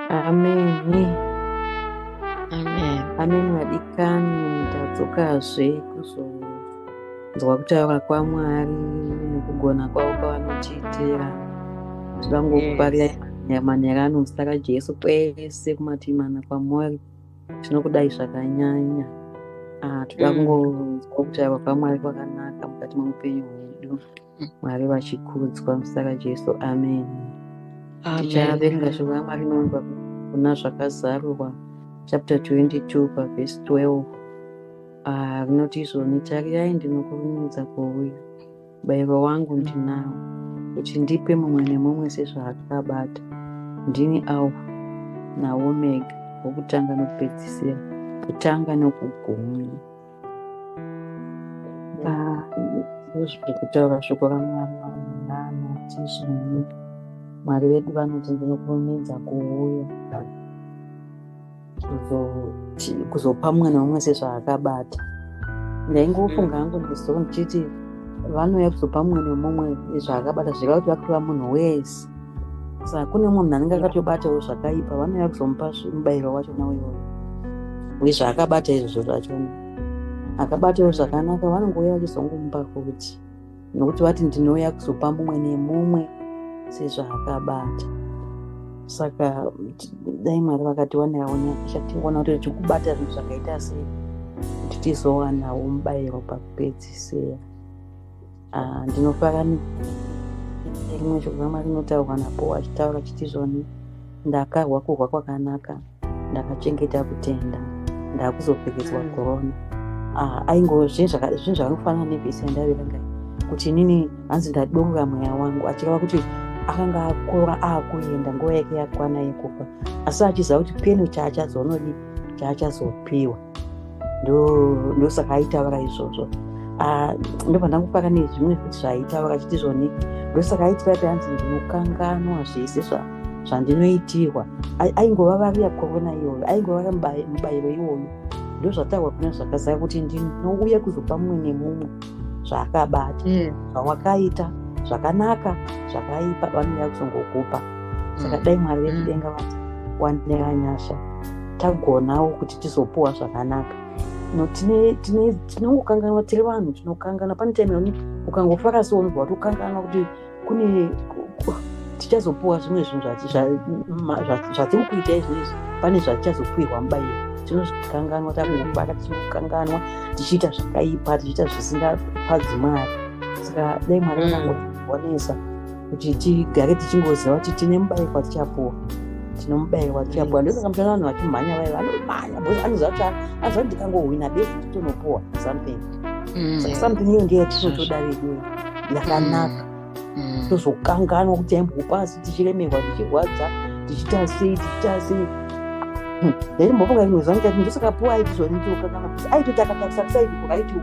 ameni ameni vadikani ndadzokazve kuzonzwa kutaura kwamwari nekugona kwavo kwavanotiitira zvivangokuparira manyara anozita rajesu kwese kumativi mana kwamwari tinokudai zvakanyanya ah, toda mm. kungonzwa kutaura kwamwari kwakanaka mukati mwemupenyu hwedu mwari vachikudzwa muzita rajesu amen tichaverenga shoko ramwari inonga kuna zvakazarurwa chapter 22 pavhesi 12 ah, rinoti izvoni tarirai ndinokurumidza kuuya bairo wangu ndinawo kuti ndipe mumwe nemumwe sezvaakabata ndini alfa naomega wokutanga nokupedzisira kutanga nokugumi zviri kutaura shoko ramwari vanoti zvinhu mwari vedu vanoti ndinokurumidza kuuya kuzopa mumwe neumwe sezvaakabata ndaingofunga hangu ndiso ndichiti vanouya kuzopa mumwe nemumwe zvaakabata zvireva kuti vakuva munhu wese sa kune munhu anenge akatobatawo zvakaipa vanouya kuzomupa mubayiro wacho nawo iwoyo uye zvaakabata izvozvo zvachona akabatawo zvakanaka vanongouya vachizongomupa kuti nokuti vati ndinouya kuzopa mumwe nemumwe sezvaakabata saka dai mwari vakatiwanirawo nyasha tingoona kuti tichikubata zvinhu zvakaita sei kuti tizowanawo mubayiro pakupedzisira Ah, ndinofara rimwe shoko ramwari rinotaurwa napo wachitaura chiti zvoni ndakarwa kurwa kwakanaka ndakachengeta kutenda ndakuzopfekedzwa mm. korona ah, aingove zvinhu zvakanofanana nevhisi yandaverenga kuti inini hanzi ndadonga mweya wangu achireva kuti akanga akura akuenda nguva yake yakwana yekufa asi achiziva kuti peno chaachazoonodii chaachazopiwa ndosaka aitaura izvozvo ah, ndobva ndangopaka nezvimwe kuti zvaaitaura achiti zvoni ndosaka aitira kuti anzi ndinokanganwa zvese zvandinoitirwa aingova variya korona iyoyo aingova mubayiro iwoyo ndozvataurwa kuna zvakazara kuti ndinouya kuzopa mumwe nemumwe zvaakabata hmm. zvawakaita zvakanaka zvakaipa vanouya kuzongokupa saka hmm. dai mwari vekudenga hmm. vati wandira nyasha tagonawo kuti tizopuwa zvakanaka no tinongokanganwa tiri vanhu tinokanganwa pane time yoni ukangofara so unobva kuti ukanganwa kuti kune tichazopuwa zvimwe zvinhu zvatiri kuita izvizvi pane zvatichazopuirwa mubayiro tinozvikanganwa takungobata tichikukanganwa tichiita zvakaipa tichiita zvisingafadzi mwari saka dai mwari anangoonesa mm. kuti tigare tichingoziva kuti tine mubayiko watichapuwa tine mubayiko watichapuwa ndosaka mutaona vanhu vachimhanya vaye vanomhanya bcause anoziva kuti anoziva kuti ndikangohwina besi titonopuwa something mm. saka something iyo ndiyo yatinotoda veduyo yakanaka mm. mm. tozokanganwa kuti aimbokupa asi tichiremerwa tichirwadza tichiita sei tichiita sei ndaimbofunga rimwe zuva ndikati ndosakapuwa aitizonitiokanana aitoti akatakisa kusaiiaiti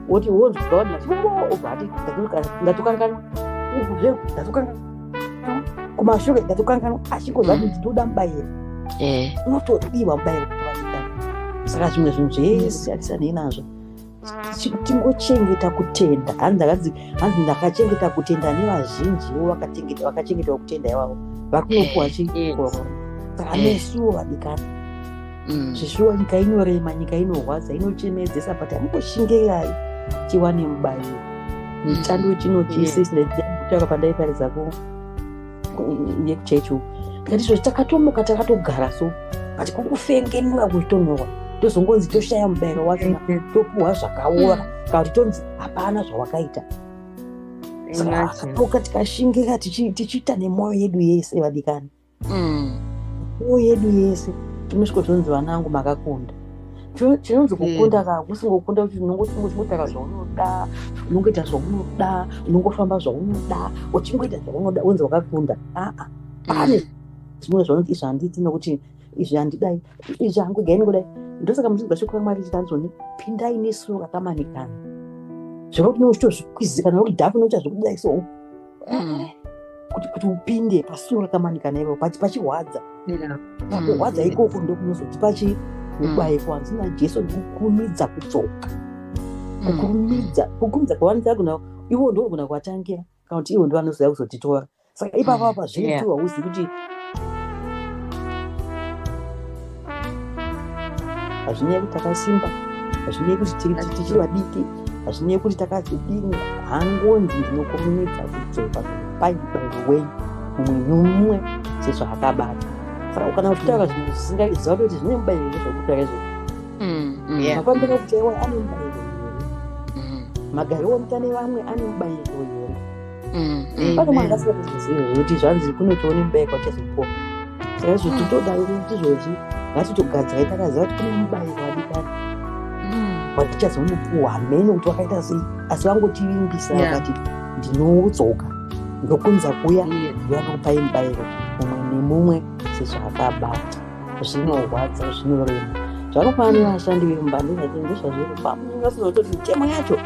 woti wonzwa wati machibaba obva ati ndatokanganwa zveku ndatokanganwa kumashure ndatokanganwa achingozva kuti ndoda mubayiro unotodiwa mubayiro saka zvimwe zvinhu zvese atisanei nazvo tingochengeta kutenda hanzi hanzi ndakachengeta kutenda nevazhinjiwo vakachengetawo kutenda ivavo vakunopuwa chii saka nesuwo vadikana mm. zvishuwa nyika inorema nyika inorwadza inochemedzesa but amukoshingerai chiwane mubairo chando chino chese chinakutaka pandaiparidza ku yekuchechu ndatizo takatomuka takatogara so but kukufengenuka kutonhorwa tozongonzi toshaya mubairo wacho topuhwa zvakaora mm. kana kuti tonzi hapana zvawakaita saka tikashingira tichiita nemwoyo yedu yese vadikani mm. o yedu yese inosviko zvonzi vana vangu makakunda chinonzi hmm. kukunda ka kusingokunda kuti unongotaura zvaunoda unongoita zvaunoda unongofamba zvaunoda uchingoita zvaunoda wonzi wakakunda aa pane hmm. zvimwe zvaunoti izvi handiti nokuti izvi handidai izvi hangu gai ningodai ndosaka muchinzwa shoko ramwari chitanzoni pindai nesu rakamanikana zvekuti neuchitozvikwizikana nokuti dhafu neuchazvikudai so mm. kuti kuti upinde pasuo rakamanika naivo pachi pachirwadza yeah. Mm. kurwadza ikoko ndokunozoti pachi ubaikwa mm. nzina jesu ndikukurumidza kudzoka mm. kukurumidza kukurumidza kwavanzira kuna ivo ndovagona kuvatangira kana kuti ivo ndovanozoya kuzotitora saka ipapa pazviritu hauzivi kuti hazvinyaya kuti takasimba hazvinyaya kuti tichiri vadiki hazvinyaya kuti takazidini hangonzi ndinokomunidza kudzoka pai baiwei mumwe nomumwe sezvaakabata saka ukana kutaura mm. zvinhu zvisingaizva kuti zvine mubairo zvekutaura izvo makwambira kuti ewa ane mubairo here mm. magari omutane vamwe ane mubairo here panomwe angasingatozvizive zvekuti zvanzi kunotiwo nemubayiko achazopuwa saka izvo titodai kuti izvozvi ngatitogadzai takaziva kuti kune mubayiko wadikani watichazomupuwa hamene kuti wakaita sei asi vangotivimbisa vakati ndinodzoka ndokunza kuya ndiyanokupai mubayiro mumwe nemumwe sezvakabata zvinorwadza zvinorema zvakafanira vashandi vemumba ndozvazviri pamwe vasizototi mitemo yacho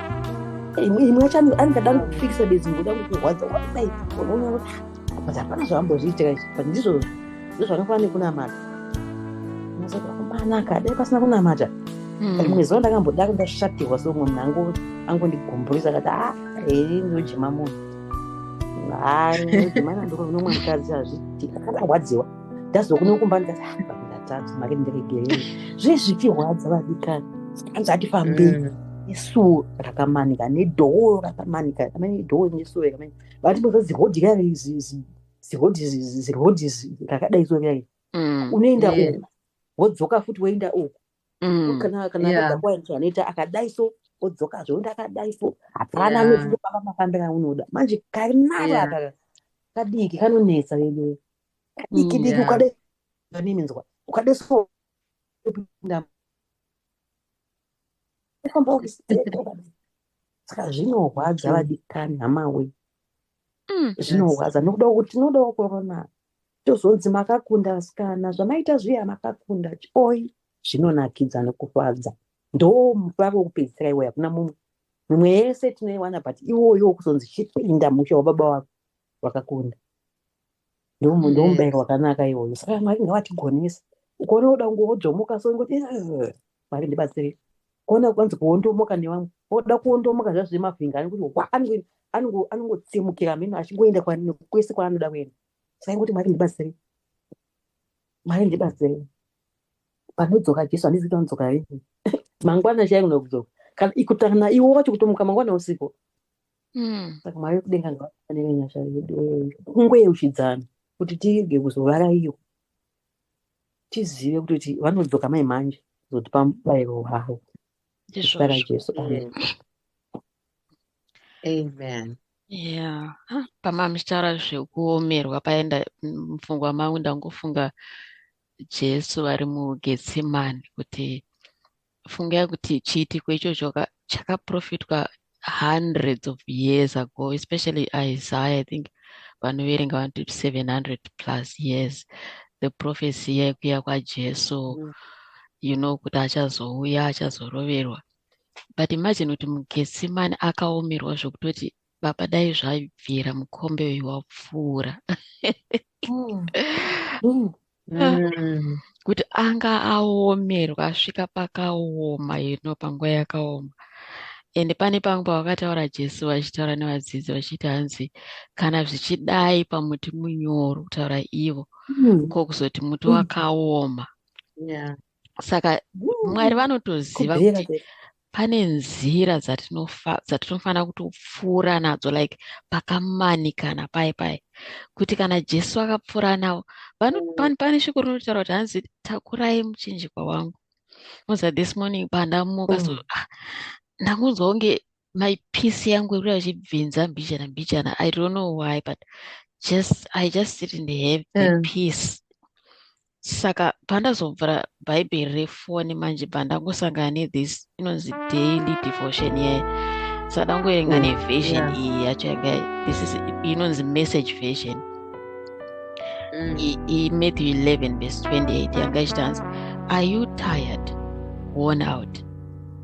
imwe yacho anenge dani kufikisa bedzi ngoda kukurwadza wadai unoona kuti but hapana zvavambozviitira izvi but ndizvo ndozvakafanira nekunamata mazoda kumanaka dai pasina kunamata hmm. rimwe zuva ndakamboda kundashatirwa so umwe munhu angondigumburisa akati a ah, hei ndojima munhu hai ndojima nandokunonomwe mukadzi hazviitika akandarwadziwa ndazokuno kumba ndikati ah, baba ndatadza make ndiregerei zve zvichirwadza vadikani anzi atifambei mm. nesuo rakamanika nedhoo rakamanika amene dhoo nesuo rakamani vati boza zihodhi rari zihodhi zihodhi rakadai so rari mm. unoenda uku wodzoka futi woenda uku mm. kana kana yeah. anoita akadai so odzoka zvoenda akadai so hapana anoziva paka mafambira unoda manje karinara yeah. kadiki kanonetsa veduwe kadiki diki ukade nini nzwa ukade so saka zvinorwadza vadikani hamawe mm, zvinorwadza nokuda kuti tinodawo korona tozonzi makakunda vasikana zvamaita zviya makakunda oi zvinonakidza nokufadza ndo mupavo wekupedzisira iwoyo hakuna mumwe mimwe yese tinoiwana but iwoyo wokuzonzi chipinda musha wababa wako wakakunda ndomubairo wakanaka iwoyo saka mwari ngavatigonesa ukaona woda kunge wojomoka so ingoti mwari ndibatsirei kuona kwanzi kuondomoka nevamwe woda kuondomoka zvazvo zvemafinga anekuti wa anongotsemukira mheno achingoenda kwese kwaanoda kuenda saka ingoti mwari ndibatsirei mwari ndibatsirei panodzoka jesu handizi kuti anodzoka rini mangwana chaikunokudzoka kana ikutana iwo wacho kutomuka mangwana usiku Mm. saka mwari wekudenga ngavafanire nyasha yedu kungoyeuchidzana kuti tirege kuzovaraiwa tizive kuti vanodzoka mai manje kuzotipa mubayiro wavo zita rajesu amen amen yeah pamamichitaura zvekuomerwa paenda mupfungwa mangu ndangofunga jesu vari mugetsemani kuti fungai kuti chiitiko ichocho chakaprofitwa hundreds of years ago especially isaiah i think vanoverenga vanoti 700 plus years the prophecy yekuya kwajesu mm. you know kuti achazouya achazoroverwa but imagine kuti mugetsimani akaomerwa zvokutoti baba dai zvabvira mukombe uyu wapfuura mm. mm. mm. kuti anga aomerwa asvika pakaoma ino panguva yakaoma ende pane pamwe pavakataura jesu vachitaura nevadzidzi vachiti hanzi kana zvichidai pamuti munyoro kutaura ivo mm. ko kuzoti muti mm. wakaoma yeah. saka mwari vanotoziva kuti pane nzira dzatinofanira kutopfuura nadzo like pakamanikana paye paye kuti kana jesu akapfuura navo mm. pane shoko rinotaura kuti hanzi takurai muchinjikwa wangu moza this morning pandamuka so mm. ah, ndakunzwa kunge my peace yangu ikuda kuchibvinza mbichana mbichana i don't know why but just i just didn't have the yeah. peace saka pandazobvura bhaibheri refoni manje pandangosangana nethis inonzi daily devotion yaye saka dangoerenga neversion iyi yacho yanga this is inonzi message version mm. imatthew 11 vese 28 yanga ichitanzi are you tired worn out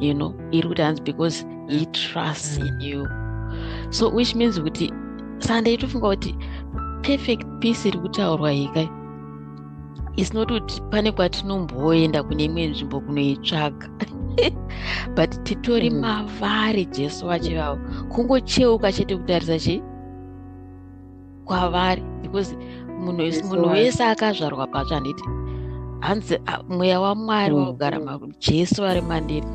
you know iri kuti hanzi because he trusts in mm. you so which means kuti sunday tofunga kuti perfect peace iri kutaurwa hika is not kuti pane kwatinomboenda kune imwe nzvimbo kunoitsvaga but titori mm. mavari jesu vachivawo kungocheuka chete kutarisa chii kwavari because munhu munhu wese akazvarwa patsva handiti hanzi mweya wamwari mm. wakugara jesu vari mandiri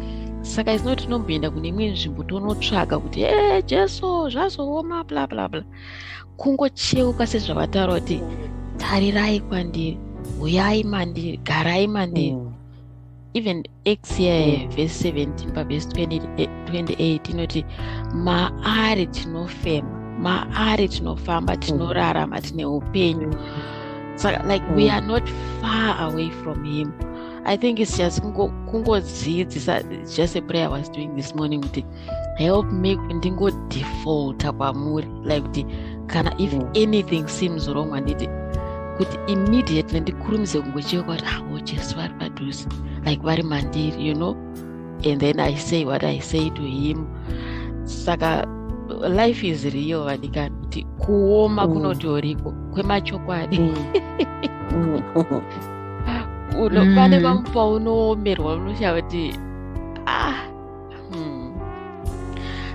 saka isino tinomboenda kune imwe nzvimbo tonotsvaga kuti e jesu zvazooma bla bla bla kungocheuka sezvavataura kuti tarirai kwandiri huyai mandiri garai mandiri mm. even acts here verse 17 pavhesi 28 inoti maari tinofema maari tinofamba mm. tinorarama tine upenyu saka like we mm. are not far away from him i think it's just kungodzidzisa just a prayer i was doing this morning kuti help me ndingo defaulta kwamuri like kuti kana if mm. anything seems wrong handiti kuti immediately ndikurumise kungochiva kwati havo ah, jesu vari padhuze like vari mandiri you know and then i say what i say to him saka life is real vadikani kuti kuoma mm. kunotoriko kwemachokwadi mm. mm. pane mm. vamupaunowomerwa unoshava kuti ah hmm.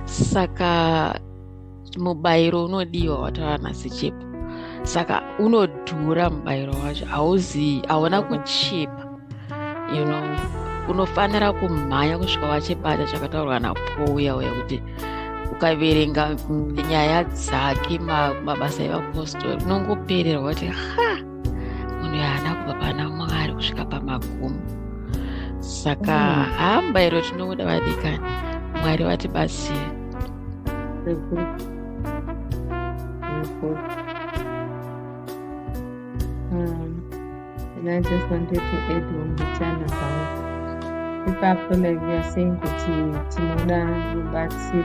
saka mubayiro unodiwa wataura nhasi chipo saka unodhura mubayiro wacho hauzivi hauna kuchipa you know unofanira kumhanya kusvika wachibata chakataurwa napouya uya kuti ukaverenga nyaya dzake mabasa evapostori unongopererwa kuti ha munhu yaana kubva pana mwari kusvika pamagumo saka mm. hamba iro tinobuda vadikani mwari vatibatsire Um, and I just wanted to add on the channel about ipapo like we are saying kuti tinoda rubatsiro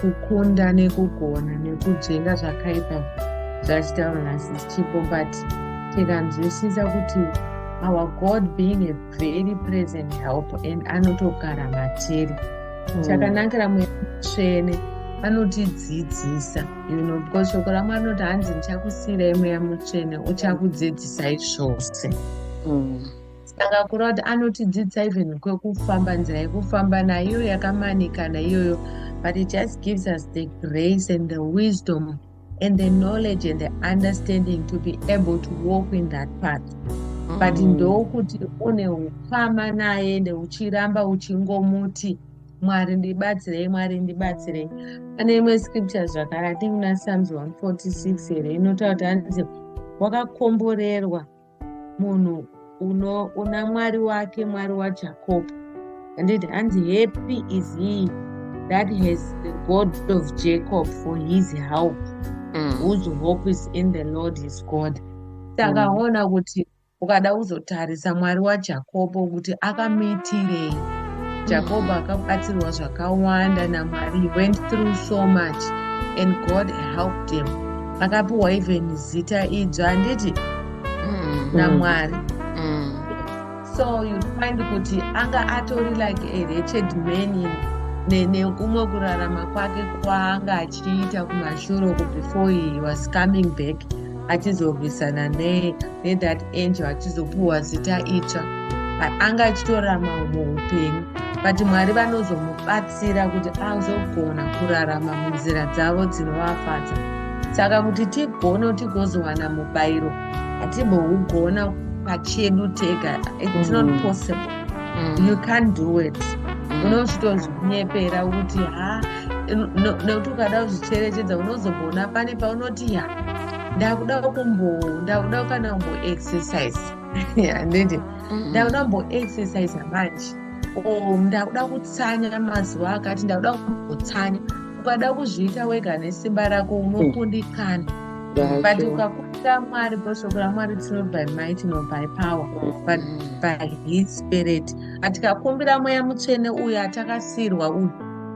kukunda nekugona nekudzenga zvakaipa zvachitaura nhasi chipo but tikanzwisisa kuti our god being a very present help and anotogara matiri mm. chakanakira mweya mutsvene anotidzidzisa you know because shoko ramwari rinoti hanzi ndichakusiyirai mweya mutsvene uchakudzidzisai zvose mm. saka kura kuti anotidzidzisa even kwekufamba nzira yekufamba naiyo yakamanikana iyoyo but it just gives us the grace and the wisdom and the knowledge and the understanding to be able to walk in that path but mm. ndokuti une ukama naye ende uchiramba uchingomuti mwari ndibatsirei mwari ndibatsirei pane imwe scripture zvakare atingi na psalms 146 here inotaura kuti anzi wakakomborerwa munhu unoona mwari wake mwari wajacob handiti hanzi happy is he that has the god of jacob for his help mm. whose hope is in the lord his god takaona mm. kuti ukada kuzotarisa mwari wajakobo kuti akamitirei jakobo mm. akabatsirwa zvakawanda namwari he went through so much and god helped him akapiwa even zita idzva handiti mm. namwari mm. so you find kuti anga atori like a wretched man nekumwe kurarama kwake kwaanga achiita kumashuroko before he was coming back achizorwisana ne let that angel achizopuhwa zita itsva anga achitorarama humwe upenyu but mwari vanozomubatsira kuti azogona kurarama munzira dzavo dzinovafadza saka kuti tigone tigozowana mubayiro hatimbougona pachedu tega its not mm. possible mm. you can't do it mm. unosvitozvinyepera kuti ha nekuti ukada kuzvicherechedza unozogoona pane paunoti ya ndakuda kumbo ndakuda kana kumbo exercise handiti mm-hmm. ndakuda kumbo exercise manje o ndakuda kutsanya mazuva akati ndakuda kumbotsanya ukada kuzviita wega nesimba rako unokundikana mm. but ukakuda mwari bhoshoko ramwari tino by might no by power mm. but by his spirit atikakumbira mweya mutsvene uyo atakasirwa uyu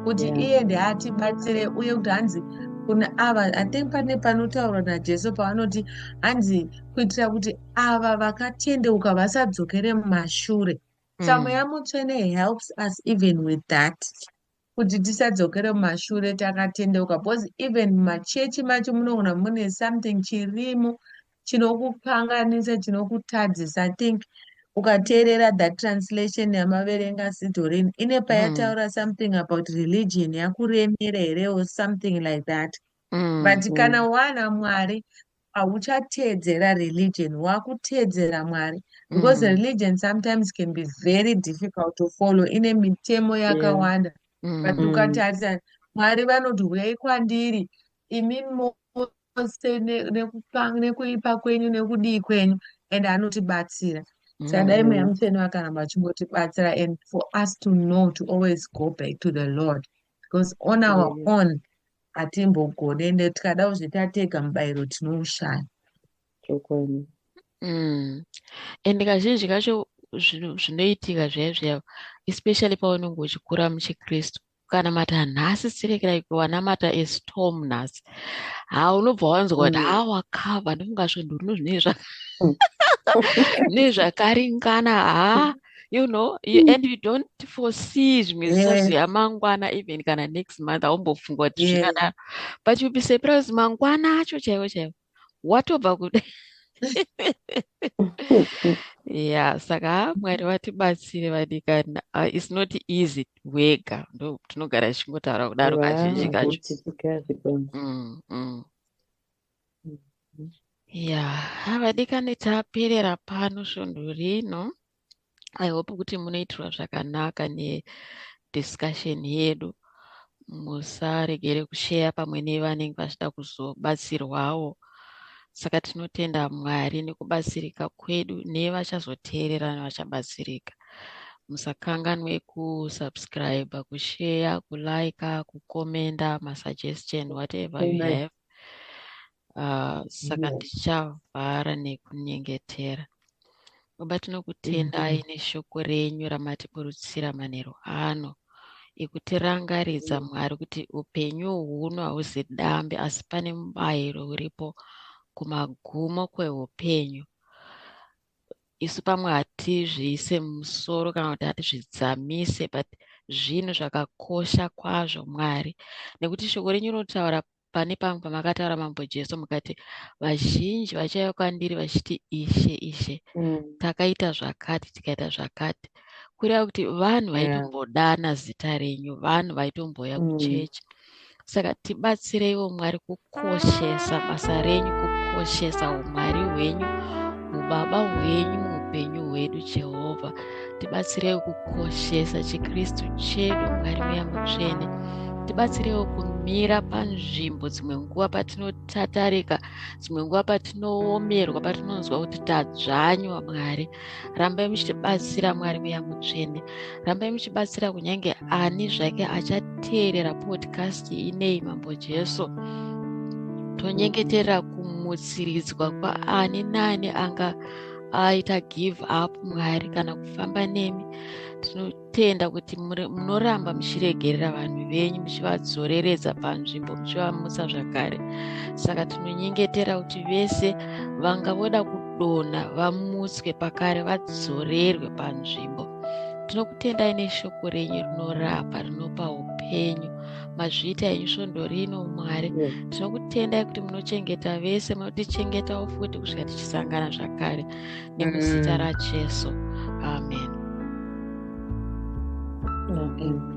kuti mm. iye ndeatibatsire uye kuti hanzi kuna ava i think pane panotaurwa najesu pavanoti hanzi kuitira kuti ava vakatendeuka vasadzokere mumashure mm. tsamo yamutsvene helps us even with that kuti tisadzokere mumashure takatendeuka because even mumachechi macho munogona mune something chirimo chinokukanganisa chinokutadzisa i think ukateerera the translation yamaverenga sidorin ine hmm. payataura mm. something about religion yakuremera here or something like that mm. but mm. kana wana mwari hauchateedzera religion wakuteedzera mwari because mm. religion sometimes can be very difficult to follow ine mitemo yakawanda yeah. mm. but ukatarisa mwari vanoti huyai kwandiri imimi chose nekupanga nekuipa kwenyu nekudii kwenyu and anotibatsira sadai mweya mm. mutsvene vakaramba vachingotibatsira and for us to know to always go back to the lord because on our mm. own hatimbogone ende tikada kuzvitatega mubayiro tinoushaya chokwadi mm. and kazhinji kacho zvinoitika zviya zviya especially paunenge uchikura muchikristu kukanamata nhasi sirekera like wanamata estom nhasi ha unobva wanzwa kuti mm. ha wakava ndimukazvo ndurino zvinei zvaka mm. nei zvakaringana ha you know you, mm. and you don't foresee zvimwe zvisazvo yeah. yamangwana even kana next month aumbofunga kuti zvingadaro yeah. but you be surprised mangwana acho chaivo chaivo watobva kuda ya saka mwari vatibatsire vadikana uh, its not easy wega ndo tinogara tichingotaura kudaro kazhinji kacho mm, mm. ya vadikani taperera pano svondo rino i hope kuti munoitirwa zvakanaka nediscussion yedu musaregere kusheya pamwe nevanenge vachida kuzobatsirwawo saka tinotenda mwari nekubatsirika kwedu nevachazoteerera nevachabatsirika musakanganwe kusubscribe kusheya kulike kukomenda masuggestion whatever Amen. you have uh, saka yes. ndichavhara nekunyengetera baba tinokutendai mm -hmm. neshoko renyu ramatiburutsira manheru ano ekutirangaridza mm. mwari kuti upenyu huno hauzi dambe asi pane mubayiro uripo kumagumo kweupenyu isu pamwe hatizviise musoro kana kuti hatizvidzamise but zvinhu zvakakosha kwazvo mwari nekuti shoko renyu rinotaura pane pamwe pamakataura mambo jesu mukati vazhinji vachauya kwandiri vachiti ishe ishe mm. takaita zvakati tikaita zvakati kureva kuti vanhu vaitombodana zita renyu vanhu vaitomboya mm. kuchechi saka tibatsireiwo mwari kukoshesa basa renyu kukoshesa umwari hwenyu ubaba hwenyu muupenyu hwedu jehovha tibatsirewo kukoshesa chikristu chedu mwari weya mutsvene tibatsirewo kumira panzvimbo dzimwe nguva patinotatarika dzimwe nguva patinoomerwa patinonzwa kuti tadzvanywa mwari rambai muchitibatsira mwari weya mutsvene rambai muchibatsira kunyange ani zvake achateerera podcast inei mambo jesu tonyengeterera kumutsiridzwa kwaani naani anga aita give up mwari kana kufamba nemi tinotenda kuti munoramba muchiregerera vanhu venyu muchivadzoreredza panzvimbo muchivamutsa zvakare saka tinonyengetera kuti vese vanga voda kudonha vamutswe pakare vadzorerwe panzvimbo tinokutendai neshoko renyu rinorapa rinopa upenyu mazviita henyu svondo rino mwari tinokutendai kuti munochengeta vese munotichengetawo futi kusvika tichisangana zvakare nemuzita mm. rajesu amen, amen.